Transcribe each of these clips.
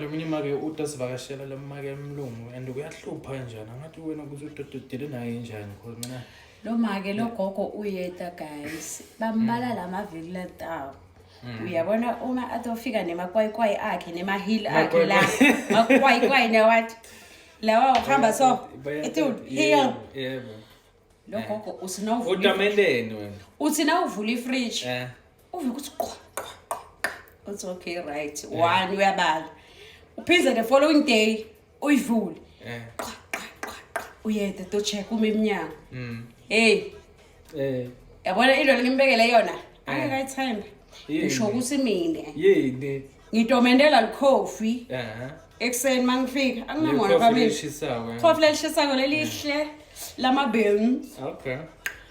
Eminye imake uta sivakashela le make emlungu and kuyahlupha kanjani angathi wena ukuthi udododile naye njani cause mina lo make lo gogo uyeta guys bambala hmm. la mavili latawo hmm. uyabona uma atofika nemakwayikwayi akhe nemahili akhe la makwayikwayi nawathi lawa uhamba so ethi yebo Lo Eh. gogo uthi na uvula Kodwa ifridge. meleni wena? uthi na uvula ifridge Eh. uvike ukuthi qwa qwa qwa qwa. uthi okay right Eh. one uyabala uphinde the following day uyivule Eh. qwa qwa qwa qwa uyede to check uma emnyango Mm. hey Eh. yabona into lengimbekele yona Eh. angekayithembe Yini? ngisho ukuthi mina Yini? ngitomentela likhofi Ehhe. ekuseni mangifika anginamona Likhofi family lishisayo, eh. khofi lelishisayo lelihle lamabeans Okay.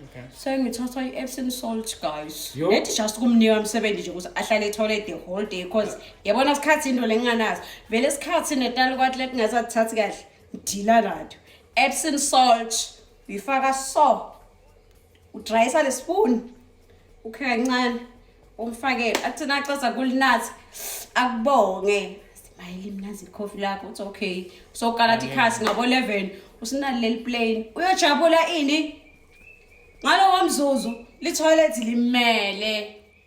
Okay. sengithatha i-epsom salt guys Yo. nethi just kumnika msebenzi nje ukuthi ahlale ethole the whole day cause yabona sikhathi into lenginganazo vele sikhathi netali kwathi lekungasathathi kahle ngidila nato epsom salt uyifaka so udrayisa le spoon ukhe kancane umfakele athi nacasa kulinathi akubonge simayile imnazi ikhofi lakho uthi okay usokala thi khasi ngabo 11 usinali leli plane uyojabula ini ngalowo mzuzu lithoyilethi limele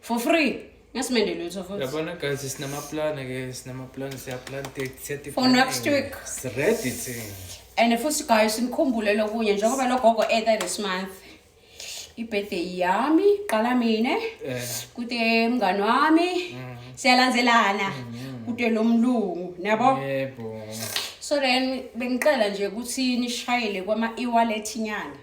for free ngasimende lutho futhi yabona guys sinamaplana ke sinamaplana siyaplanta siyatifuna for next week ready thing and futhi guys nikhumbule lokunye njengoba logogo ethe this month ibirthday yami qala mina eh. kude mngani wami mm. siyalandzelana mm. kude lo mlungu niyabo yebo so then bengicela nje ukuthi nishayele kwama-e-wallet nyana